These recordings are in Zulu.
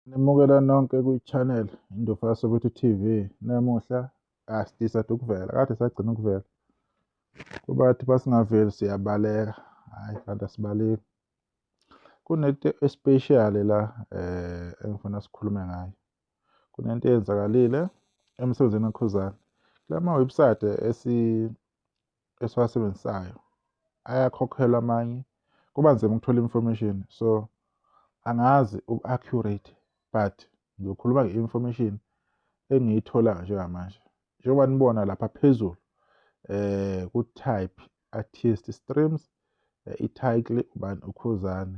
Ngemukela nonke kwi-channel Indufa yasoButhi TV. Namuhla asisade ukuvela, kade sagcina ukuvela. Kubathi basingaveli siyabaleka, hhayi kanti asibaleki. Kunento especial la eh engifuna sikhulume ngayo. Kunento eyenzakalile emsebenzini weKhuzani. Kula ma-website esi esiwasebenzisayo ayakhokhelwa amanye kuba nzima ukuthola information so angazi uku-accurate but ngiyokhuluma nge-information engiyithola njengamanje njengoba nibona lapha phezulu eh ku-type artist streams eh, i-title ubani ukhuzane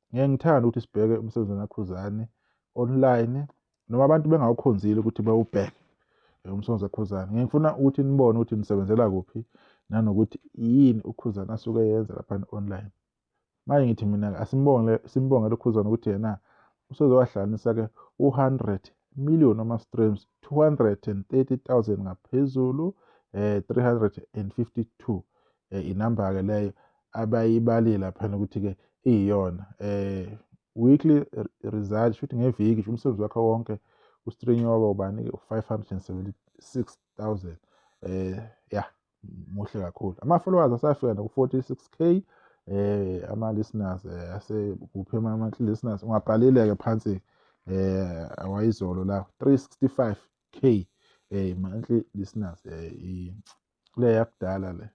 Ngeke ngithanda ukuthi sibheke umsebenzi kaKhuzani online noma abantu bengawukhonzile ukuthi bawubheke umsebenzi kaKhuzani. Ngeke ngifuna ukuthi nibone ukuthi nisebenzela kuphi nanokuthi yini uKhuzani asuke yenza lapha online. Manje ngithi mina asimbonge simbongele uKhuzani ukuthi yena usezowahlanganisa-ke u-100 million ama-streams 230 000 ngaphezulu um eh, 352 um eh, inamba-ke leyo abayibalile laphana ukuthi-ke iyiyona um weekly result shuthi ngeviki nje umsebenzi wakhe wonke ustrinywa waba ubani-ke u-five hundred and seventy six thousand um ya muhle kakhulu ama-followers asafika naku-forty six k eh ama-listeners eh, asekuphi ama-monthly listeners ungabhalile-ke phansi eh awayizolo la 365 k eh monthly listeners eh le yakudala le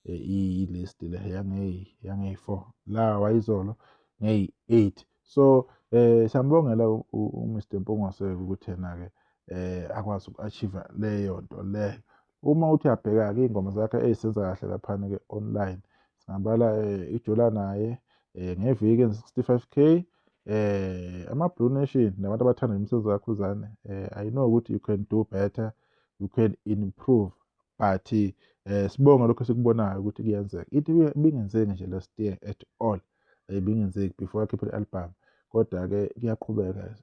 eh, iyilist le yangeyi yangeyi-four la wayizolo ngeyi-eight so eh siyambongela umr mpungoseke ukuthi yena-ke eh akwazi uku-achieve leyo nto leyo uma uthi uyabheka-ke iy'ngoma zakhe eyisenza kahle laphana-ke online singabala eh, ijula naye eh, ngeviki en-65 k eh ama-blue nation nabantu abathanda imisebenzi kakhuzane eh i know ukuthi you can do better um you can improve but eh sibonga lokho sikubonayo ukuthi kuyenzeka ithi bingenzeki nje last year at all eh, bingenzeki before akhiphe i-album kodwa ke kuyaqhubeka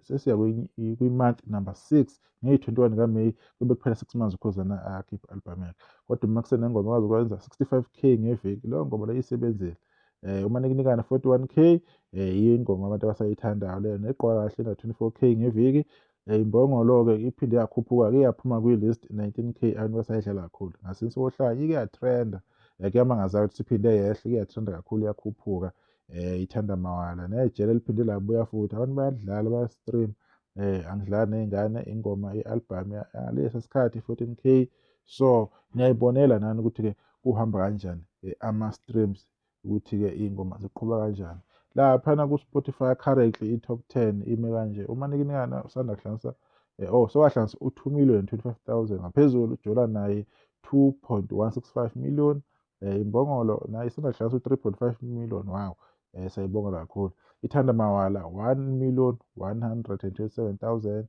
sesiya kwi-month number six ngeyi-21 kaMay kube kuphela six months ukhozana akhiphe i-album yakhe kodwa uma kusenengoma kwazi ukwenza 65 k ngeviki leyo ngoba leyo isebenzile eh uma nikunikana 41k eh ingoma abantu abasayithandayo leyo neqwa kahle na 24k ngeviki Imbongolo-ke iphinde yakhuphuka-ke yaphuma kwi-list 19K abantu basayidlala kakhulu. Ngasinsi kohlaya ike yatrenda eh, kuyamangaza ukuthi siphinde yehle ike yatrenda kakhulu yakhuphuka um ithanda mawala nejele liphinde labuya futhi abantu bayadlala bayastream um eh, angidlali ney'ngane ingoma i-albhamu yalesi sikhathi 14K so niyayibonela nani ukuthi-ke kuhamba kanjani ama-streams ukuthi-ke iy'ngoma ziqhuba kanjani laphana ku-spotify currently i-top ten ime kanje uma nikinikana usanda kuhlanganisa eh, oh sewahlanganisa u-two million twenty-five thousand ngaphezulu ujola naye two point one six five million um imbongolo naye isanda kuhlanganisa u-three point five million wow um siyayibonga kakhulu ithanda mawala one million one hundred and twenty-seven thousand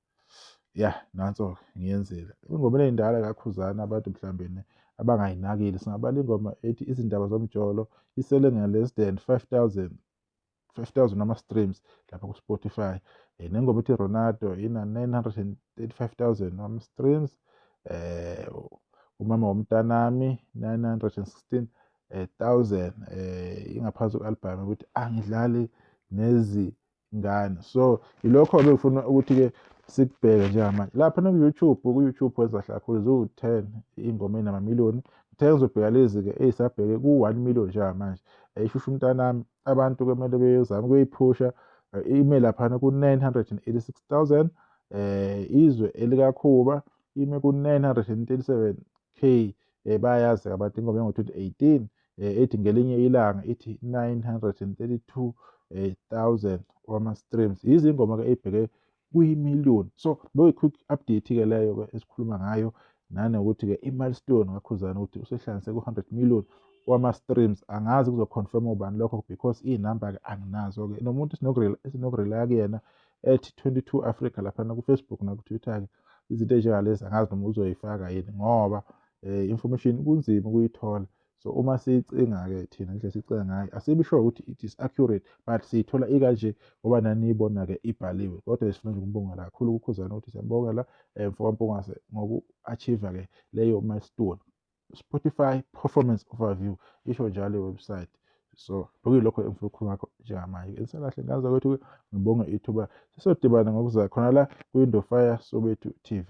ya nanso ngiyenzile ingoma enendala kakhuzana abantu mhlawumbe abangayinakile singabala ingoma ethi izindaba zomjolo isele nge-less than 5000 5000 ama-streams lapha ku-spotify um nengoma ethi ronaldo ina-935000 ama-streams um umama womntanami 916000 um ingaphansi kwe-albhamu ukuthi angidlali nezi ngane so yilokho bengifuna ukuthi-ke sikubheke njengamanje lapha naku-youtube ku-youtube wenza kakhulu ziwu-ten iy'ngoma ey'namamiliyoni ngithe ngizobheka lezi-ke eyisabheke ku-one million njengamanje eyishusha umntanami abantu kumele beyozama ukuyiphusha eh, ime laphana ku-986 000 eh izwe elikakhuba ime ku-937 k eh bayazi abantu ingoma engo 2018 eh ethi ngelinye ilanga ithi 932 eh, 1000 wama streams izingoma ke ebheke kuyimillion so boy quick update ke leyo ke esikhuluma ngayo nanokuthi ke imilestone kakhuzana ukuthi usehlanganise ku 100 million wama streams angazi kuzoconfirm ubani lokho because inumber ke anginazo ke nomuntu sinokurela sinokurela kuyena ethi 22 Africa lapha nakufacebook nakutwitter-ke izinto ezinjengalezi angazi noma uzoyifaka yini ngoba um information kunzima ukuyithola so uma siyicinga-ke thina nje sicinga ngayo asibi sure ukuthi it is accurate but siyithola ikanje ngoba naniyibona-ke ibhaliwe kodwa sifuna nje ukumbongela kakhulu kukhuzana ukuthi siyambongela um eh, mfokampungase ngoku-achieve-ke leyo milestone Spotify performance overview isho njalo iwebsite so bekuyilokho engifuna ukukhuluma ngakho njengamanje insalahle ngazi kwethu ngibonge ithuba sisodibana ngokuza khona la kwi-window fire sobethu tv